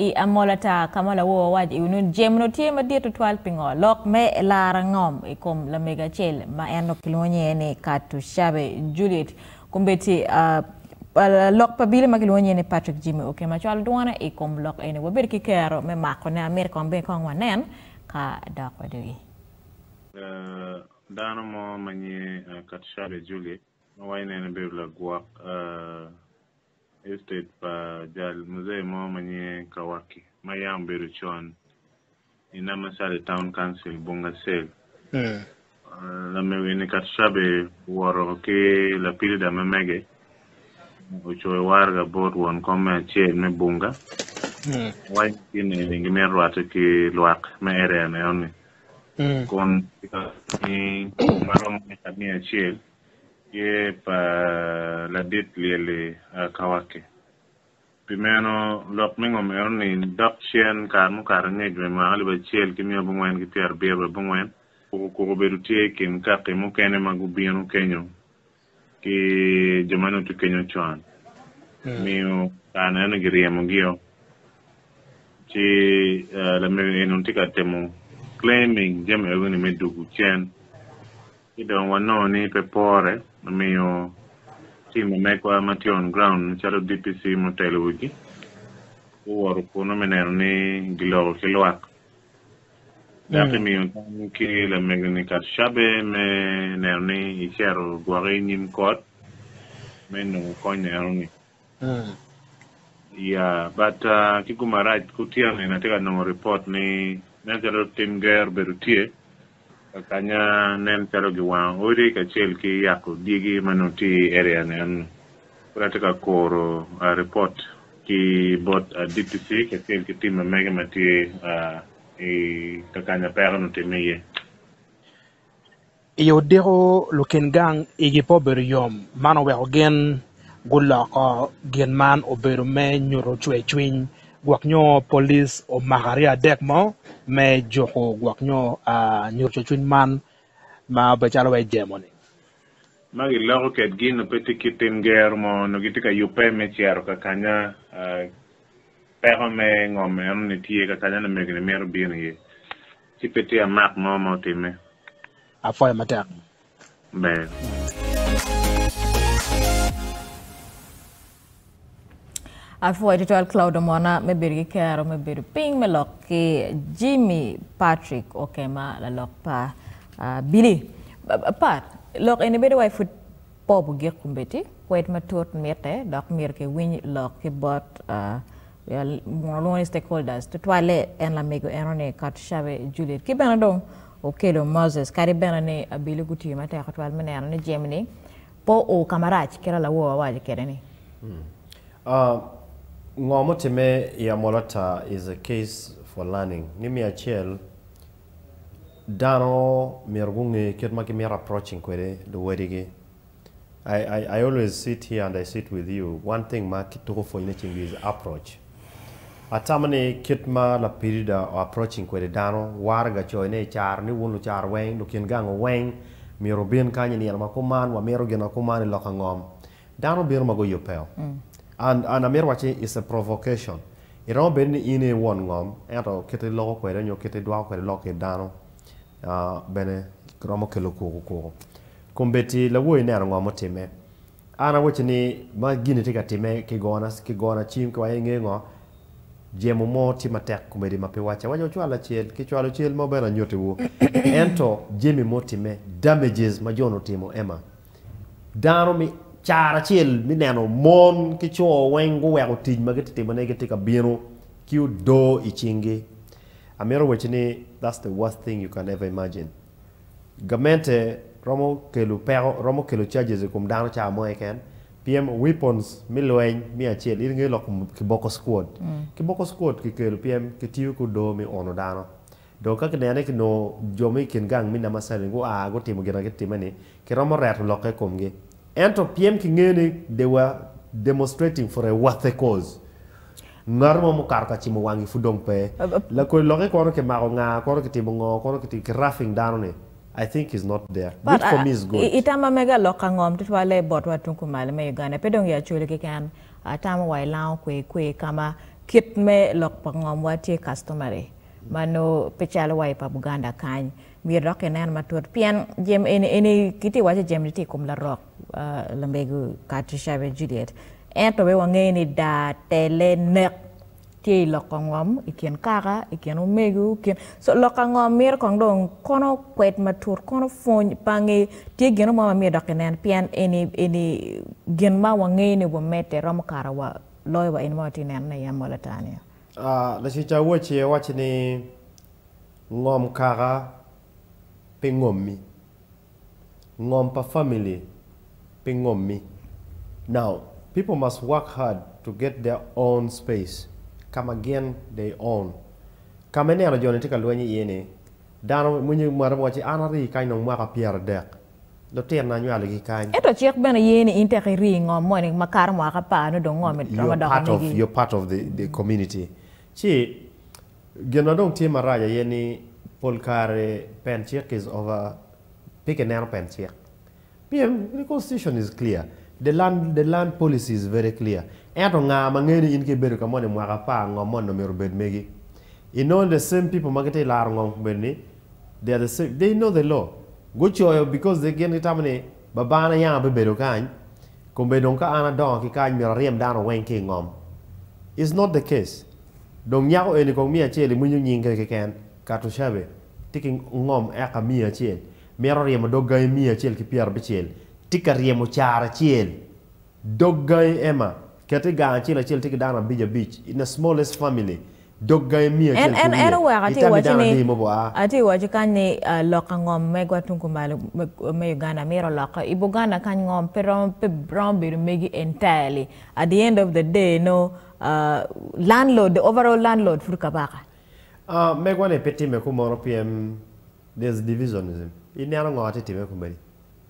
I amola taa ka ma lawor wawac iwi nun Jim onongo tye madit tutwal pingo lok me laro ngom i kom lamego acel ma en onongo kilwongo nyinge ni Katushabe Juliet Kumbeti. Lok pa bili ma kilwongo nyinge ni Patrick Jimmy Oke ma cwalo dwone i kom lok eni. Wabedo ki kero me makone. Amito kong bene kong wanen ka dok wadogi. Dano mo ma nyinge Katushabe Juliet ma wa ineno bedo lagwok Estate pa jal Muzee mo ma nyinge Kawaki ma yam obedo con i Namasale Town Council, Bunga Cell. Lamewu eni Katushabe owoto ki lapilida ma mege ocoyo waraga bot won kom me acel me Bunga owaco ni gin eni gimito rwatte ki lwak me area enoni kun kikakane ni ma romo eka miya acel Tye pa ladit lyel-li a ka wakke. Pi meno, lok me ngom eno ni, dok cen kare mukato angec me mwaka alip acel ki miya abongwen ki pyera abiro wa abongwen, kuku kuku obedo tye i kin kaki mukene ma gubino kenyo ki jo ma nongo tye kenyo con, omiyo kare neno ni giryemogi-o. Ci lamego eni onongo tye ka temo claiming jami ewgi-ni me dugu cen. Ci dong wanongo ni pe pore me miyo tim ma megwa ma tye on ground macalo DPC ma otelo wigi guwoto kunnu me neno ni giloko ki lwak dok imiyo tam ki lamego-ni Katushabe me neno ni icito gwoki i nyim kot me nongo kony eno-ni. Ya, but ki gu marac ku tyeno eni atye ka nongo report ni nen calo tim ger obedo tye ka kanya nen calo gi wango odi kacel ki yako dyegi ma nongo tye i area ni eno. Kadi atye ka kuro report ki bot DPC kacel ki tim ma mege ma tye i ka kanya peko ni otimme iye. I odiko lukin gang igi pe obedo yom, man oweko gin guloko gin man obedo me nyuto cwercwiny gwok nyo polic omako aryo adek mo me juko gwok nyo nyuto cwercwiny man ma obedo calo wa i jemo ni. Ma giloko ked gin nongo pe tye kit tim gero mo nongo gitye ka yubbe me cito ka kanya peko me ngom eno ni tye, ka kanya ni omege ni mito bino iye. Ci pe tye amak mo ma otimme. Apwoyo matek. Amen. Apwoyo tutwal Claude Omona me bedo ki kero me bedo piny me lok ki Jimmy Patrick Okema lalok pa uh, Billy. Pat, lok eni bedo wai pud Popo gik kombeddi kwed matut mitte dok myero ki winy lok ki bot mono lwongo ni stakeholders tutwalle en lamego eno ni Katushabe Juliet ki bene dong Okello Moses kadi bene ni Abilu gutiyo matek tutwal me neno ni jemi ni pe o ka marac kit a lawor wawaco kede ni. Ngo mutimme i Amolo Tar is a case for learning ni miya acel dano myero gunge kit ma gimito approaching kwede luwadigi. I always sit here and I sit with you, one thing ma kituko pwony ne ceng is approach. Atamo ni kit ma lapidida o approaching kwede dano waraga coyo ne i caro ni wun lucar weng, lukin gang weng myero wubin kany i nino ma kuman, wamito gin ma kuman i loka ngom. Dano bino ma guyubbeo. An, an amito wacci it's a provocation. Iromo bedo ni in aye i won ngom, ento kite iloko kwede nyo kite idwako kwede lok ki dano, ah, bene romo kelo kuku kuku. Kombeddi lawoyi neno ngo ma otimme. An awacci ni ma gin-ni tye ka timme ki gona, ki gona cim ki waya inge ngo? Jemo mo tye matek kombeddi ma pe wacce awacca wucwal lacel, ki cwalo cel mo bene anyutiwu. Ento jemi ma otimme, damages ma jo-ni otimo Emma. Dano cara acel me neno mon ki co weng guweko tic ma gitye timone gitye ka bino ki odoo i cingi. Amito wacci ni that's the worst thing you can ever imagine. Gamente romo kelo peko, romo kelo charges i kom dano cawa mo keken pien weapons me lweny me acel in ingeyo lok kiboko squad. Kiboko squad kikelo pien kitiyo ki odoo me uno dano. Dong ka kineno ni kinongo jo ma i kin gang me Namasali gua gutimo gin ma gitimme-ni, kiromo reto lokke i komgi. Ento pien kingeyo ni they were demonstrating for a worthy cause, ngat mo mukato ka cimo wangi pud dong pe. Lakodi lokke kono kimako nga, kono kitimo ngo, kono kitimo ki roughing dano-ni, I think is not there. But Which for me is good. i tamma mega lok ka ngom tutwalle botwa tung kumalo me Uganda, pe dong i Acholi keken, atamo wa i Lango kwe kwe ka ma kit me lok pa ngomwa tye customary. ma nongo pe calo wa i pa Buganda kany, myero dok kinen matut pien jami eni, eni kitye ka waco jami-ni tye i kom larok lambego Kati Shabe Juliet ento wek wange ni daa, tele, nek tye i loko ngom i kin kaka, i kin omego, i kin, so loko angom mito kong dong kono kwed matut, kono pwony pange tye gino mo ma myero dok kinen pien eni, eni gin ma wangeyo ni wamedde romo kara wa loyo wa eni ma watye ka nenone i amola ata-ni. Lacuc awoc-ci owacci ni, Ngom kaka pi ngommi. Ngom pa famili pi ngommi. Now, people must work hard to get their own space, ka ma gin they own. Ka ma ineno jo-ni tye ka lweny iye-ni, dano, winyo mwate mo wacci, An ari kany dong mwaka pyeradek, lutino anywalogi kany. Ento cik bene ye ni in tek iri i ngom moni makato mwaka apar nongo dong ngomi romo You're doko part of megi. you're part of the the community. Ci gin ma dong tye marac aye ni pol kare pen cik is over pe kineno pen cik pien the constitution is clear, the land the land policy is very clear ento nga ma ngeyo ni in ka ibedo ka moni mwaka apar ngom moni dong myero obed megi? I nongo the same people ma gitye ka laro ngom moni They are the same, they know the law, gucoyo because they gin gitamo ni baba na yanga bibedo kany, kombe dong ka an adongo ki kany myero aryem dano weng ki ingom, it's not the case, dong nyako eni kong miyo acel iwinyo nying kene keken, Katushabe tye ki ngom eka miya acel, mito ryemo dog gangi miya acel ki pyera abicel, tye ka ryemo caro acel, Dog gangi Emma, ket i gang acel acel tye ki dano abic abic, in a smallest family, dog gangi miyo acel En, en, en kwiye, oweko atye itami waco dano ni, adi mogo a? atye waco kany ni ah, loka ngom megwa tung kumalo me, me Uganda myero olokke. I Buganda kany ngom pe romo, pe romo bedo megi entirely. At the end of the day nongo ah, landlord, the overall landlord pud Kabaka. Ah, megwa ni pe timme kumono pien there's divisionism. Ineno ngo atye timme kumeni?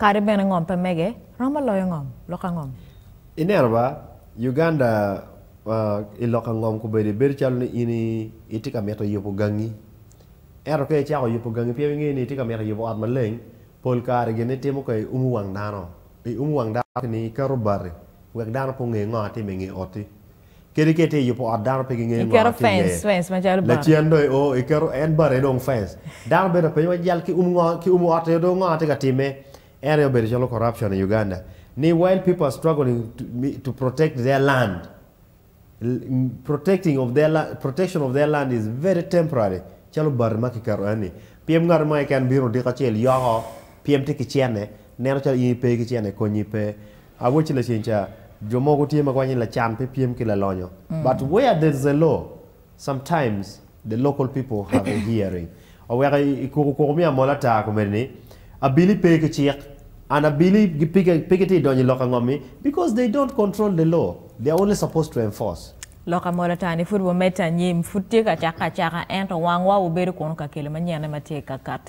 Kadi bene ngom pe mege romo loyo ngom lok angom. Ineno ba, Uganda i lok angom kobedi bedo calo ni in itye ka mito yubo gangi. Ento ka icako yubo gangi pien ingeyo ni itye ka mito yubo ot maleng, pol kare gin itimo ka i umo wang dano. I umo wang dano kini iketo bati wek dano pe onge ngo atimo i nge oti. Kadi ka itye ka yubo ot dano pe gingeyo ngo ma tye iye. Lacen dong i o iketo en bati aye dong fence. Dano bene penyo wa jal ki umo ngo ki umo ot aye dong ngo ma tye ka time. En aye obedo calo corruption i Uganda ni while people are struggling to protect their land protecting of their land protection of their land is very temporary calo bati ma kiketo enni pyem ngat mo keken bino odiko acel yoko pyem tye ki cene neno calo in ipe ki cene konyi pe. Awaci laceng ca, jo mogo tye ma kwanyo ni lacan pe pyem ki lalonyo, but where there is a law, sometimes the local people have a hearing. Oweko ikuku kuku miyo amola ata komedi ni, abili pe ki cik, and abili pe gitye ka donyo i lok angomi, because they don't control the law, they are only supposed to enforce. Lok amola ata ni pud wamedde anyim, pud tye ka cakke acaka, ento wangwa obedo kunu ka kelo manyenne ma tye ka katti.